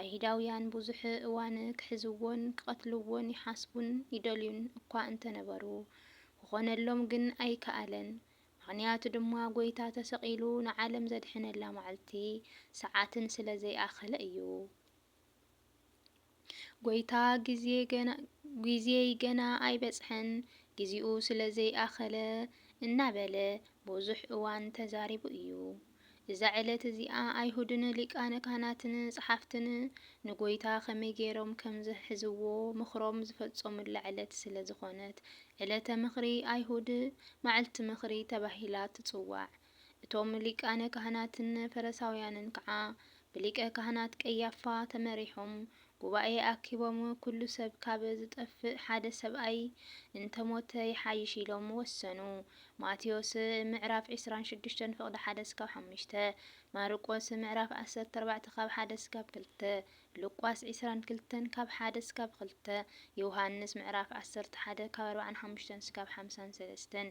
ኣይሁዳውያን ብዙሕ እዋን ክሕዝዎን ክቐትልዎን ይሓስቡን ይደልዩን እኳ እንተ ነበሩ፣ ክዀነሎም ግን ኣይከኣለን። ምኽንያቱ ድማ ጐይታ ተሰቒሉ ንዓለም ዘድሕነላ መዓልቲ፣ ሰዓትን ስለ ዘይኣኸለ እዩ። ጐይታ ግዜይ ገና ኣይበጽሐን፣ ግዜኡ ስለ ዘይኣኸለ እናበለ ብዙሕ እዋን ተዛሪቡ እዩ። እዛ ዕለት እዚኣ ኣይሁድን ሊቃነ ካህናትን ጸሓፍትን ንጐይታ ከመይ ገይሮም ከም ዝሕዝዎ ምኽሮም ዝፈጸሙላ ዕለት ስለ ዝዀነት ዕለተ ምኽሪ ኣይሁድ፣ መዓልቲ ምኽሪ፣ ተባሂላ ትጽዋዕ። እቶም ሊቃነ ካህናትን ፈረሳውያንን ከኣ ብሊቀ ካህናት ቀያፋ ተመሪሖም ጉባኤ ኣኪቦም ኩሉ ሰብ ካብ ዝጠፍእ ሓደ ሰብኣይ እንተ ሞተ ይሓይሽ ኢሎም ወሰኑ ማቴዎስ ምዕራፍ ዕስራን ሽዱሽተን ፍቕዲ ሓደ ስካብ ሓሙሽተ ማርቆስ ምዕራፍ ዓሰርተ ኣርባዕተ ካብ ሓደ ስካብ ክልተ ሉቃስ ዕስራን ክልተን ካብ ሓደ ስካብ ክልተ ዮሃንስ ምዕራፍ ዓሰርተ ሓደ ካብ ኣርብዓን ሓሙሽተን ስካብ ሓምሳን ሰለስተን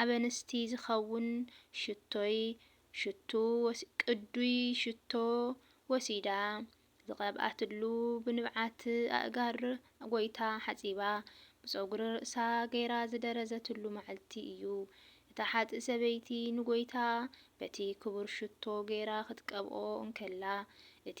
ኣብ ኣንስቲ ዝኸውን ሽቶይ ሽቱ ቅዱይ ሽቶ ወሲዳ ዝቐብኣትሉ ብንብዓት ኣእጋር ጐይታ ሓጺባ ብጸጉሪ ርእሳ ገይራ ዝደረዘትሉ መዓልቲ እዩ። እታ ሓጥእ ሰበይቲ ንጐይታ በቲ ክቡር ሽቶ ገይራ ክትቀብኦ እንከላ እቲ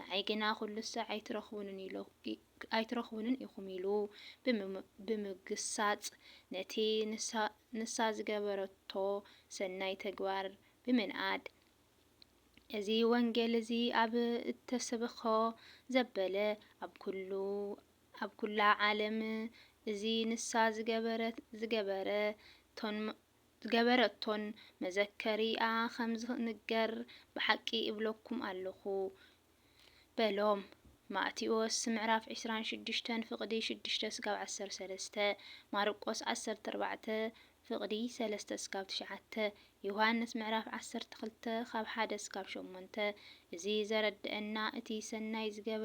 ንዓይ ግና ኩሉሰ ኣይትረኽቡንን ኢኹም ኢሉ ብምግሳጽ ነቲ ንሳ ዝገበረቶ ሰናይ ተግባር ብምንኣድ እዚ ወንጌል እዚ ኣብ እተሰብኾ ዘበለ ኣብ ኩላ ዓለም እዚ ንሳ ዝገበረቶን ዝገበረቶን መዘከሪኣ ኸም ዚንገር ብሓቂ እብለኩም ኣሎኹ በሎም። ማእቴዎስ ምዕራፍ ዕስራን ሽዱሽተን ፍቕዲ ሽዱሽተ ስጋብ ዓሰርተ ሰለስተ፣ ማርቆስ ዓሰርተ ኣርባዕተ ፍቕዲ ሰለስተ ስጋብ ትሽዓተ፣ ዮሃንስ ምዕራፍ ዓሰርተ ክልተ ካብ ሓደ ስጋብ ሸሞንተ፣ እዚ ዘረድኣና እቲ ሰናይ ዝገበ።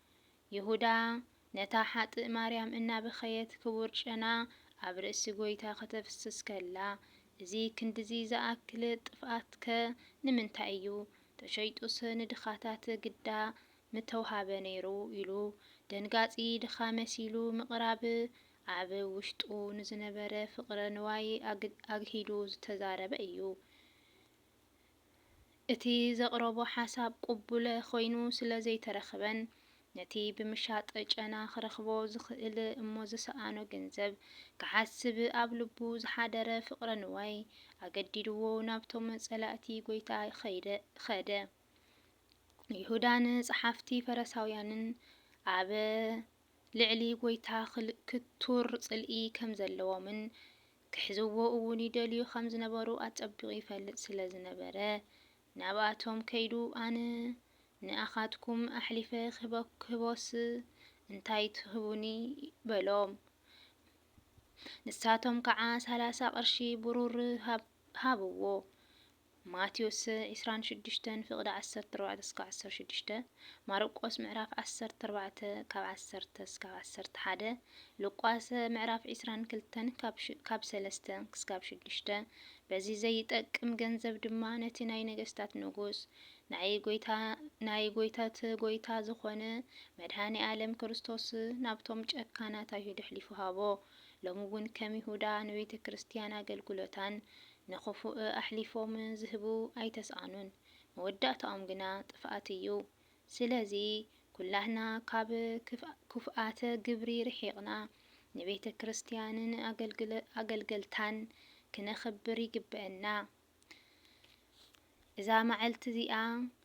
ይሁዳ ነታ ሓጥእ ማርያም እናበኸየት ክቡር ጨና ኣብ ርእሲ ጐይታ ከተፍስስ ከላ እዚ ክንድዚ ዝኣክል ጥፍኣትከ ንምንታይ እዩ? ተሸይጡስ ንድኻታት ግዳ ምተውሃበ ነይሩ ኢሉ ደንጋጺ ድኻ መሲሉ ምቕራብ ኣብ ውሽጡ ንዝነበረ ፍቕረ ንዋይ ኣግሂዱ ዝተዛረበ እዩ። እቲ ዘቕረቦ ሓሳብ ቅቡለ ኮይኑ ስለ ዘይተረኽበን ነቲ ብምሻጥ ጨና ክረኽቦ ዝኽእል እሞ ዝሰኣኖ ገንዘብ ክሓስብ ኣብ ልቡ ዝሓደረ ፍቕረ ንዋይ ኣገዲድዎ ናብቶም ጸላእቲ ጎይታ ኸደ። ይሁዳን ጸሓፍቲ ፈረሳውያንን ኣብ ልዕሊ ጎይታ ክቱር ጽልኢ ከም ዘለዎምን ክሕዝዎ እውን ይደልዩ ኸም ዝነበሩ ኣጸቢቑ ይፈልጥ ስለ ዝነበረ፣ ናብኣቶም ከይዱ፣ ኣነ ንኣኻትኩም ኣሕሊፈ ኽህቦስ እንታይ ትህቡኒ? በሎም። ንሳቶም ከዓ ሰላሳ ቕርሺ ብሩር ሃብዎ። ማቴዎስ ዕስራን ሽዱሽተን ፍቅዲ ዓሰርተ ኣርባዕተ እስከ ዓሰርተ ሽዱሽተ፣ ማርቆስ ምዕራፍ ዓሰርተ ኣርባዕተ ካብ ዓሰርተ እስካብ ዓሰርተ ሓደ፣ ሉቃስ ምዕራፍ ዕስራን ክልተን ካብ ሰለስተ እስካብ ሽዱሽተ፣ በዚ ዘይጠቅም ገንዘብ ድማ ነቲ ናይ ነገስታት ንጉስ ናይ ጎይታ ናይ ጎይታት ጎይታ ዝኾነ መድኃኔ ዓለም ክርስቶስ ናብቶም ጨካናት ኣይሁድ ኣሕሊፉ ሃቦ። ሎሚ እውን ከም ይሁዳ ንቤተ ክርስቲያን ኣገልግሎታን ንኽፉእ ኣሕሊፎም ዝህቡ ኣይተስኣኑን፣ መወዳእታኦም ግና ጥፍኣት እዩ። ስለዚ ኵላህና ካብ ክፉኣት ግብሪ ርሒቕና፣ ንቤተ ክርስቲያንን ኣገልገልታን ክነኽብር ይግበእና። እዛ መዓልቲ እዚኣ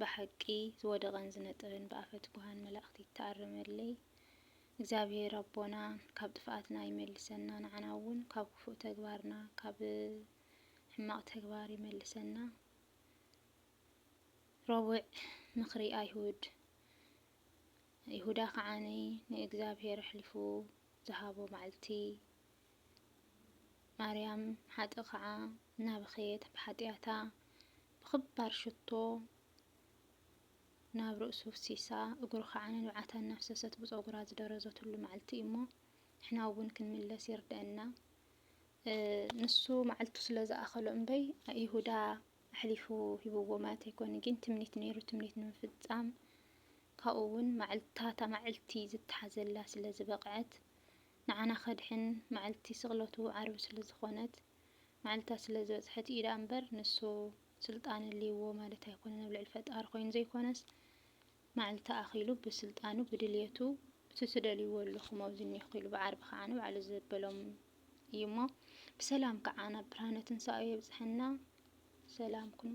ብሓቂ ዝወደቀን ዝነጠበን ብኣፈ ትጉሃን መላእክቲ ይተኣረመለይ እግዚኣብሔር ኣቦና ካብ ጥፍኣትና ይመልሰና ንዓና እውን ካብ ክፉእ ተግባርና ካብ ሕማቅ ተግባር ይመልሰና ረቡዕ ምክሪ ኣይሁድ ይሁዳ ከዓኒ ንእግዚኣብሔር ኣሕሊፉ ዝሃቦ መዓልቲ ማርያም ሓጥእ ከዓ እናበኸየት ብሓጢኣታ ብኽባር ሽቶ ናብ ርእሱ ፍሲሳ እግሩ ከዓ ንንብዓታ እናፍሰሰት ብፀጉራ ዝደረዘትሉ መዓልቲ እዩ እሞ ንሕና እውን ክንምለስ ይርድአና ንሱ መዓልቱ ስለ ዝኣኸሎ እምበይ ይሁዳ ኣሕሊፉ ሂብዎ ማለት ኣይኮነ ግን ትምኒት ነይሩ ትምኒት ንምፍፃም ካብኡ እውን ማዕልታታ ማዕልቲ ዝተሓዘላ ስለ ዝበቕዐት ንዓና ከድሕን መዓልቲ ስቅለቱ ዓርቢ ስለ ዝኮነት መዓልታ ስለ ዝበጽሐት ኢዩ ደኣ እምበር ንሱ ስልጣን ኣልይዎ ማለት ኣይኮነን ኣብ ልዕሊ ፈጣሪ ኮይኑ ዘይኮነስ መዓልታ ኣኪሉ ብስልጣኑ ብድልየቱ እቲ ትደልይዎ ኣለኹም ኣብዚ እኒኹ ኢሉ ብዓርቢ ከዓ ንባዕሉ ዘበሎም እዩ እሞ ብሰላም ከዓ ናብ ብርሃነ ትንሳኤኡ የብፅሐና ሰላም ኩኑ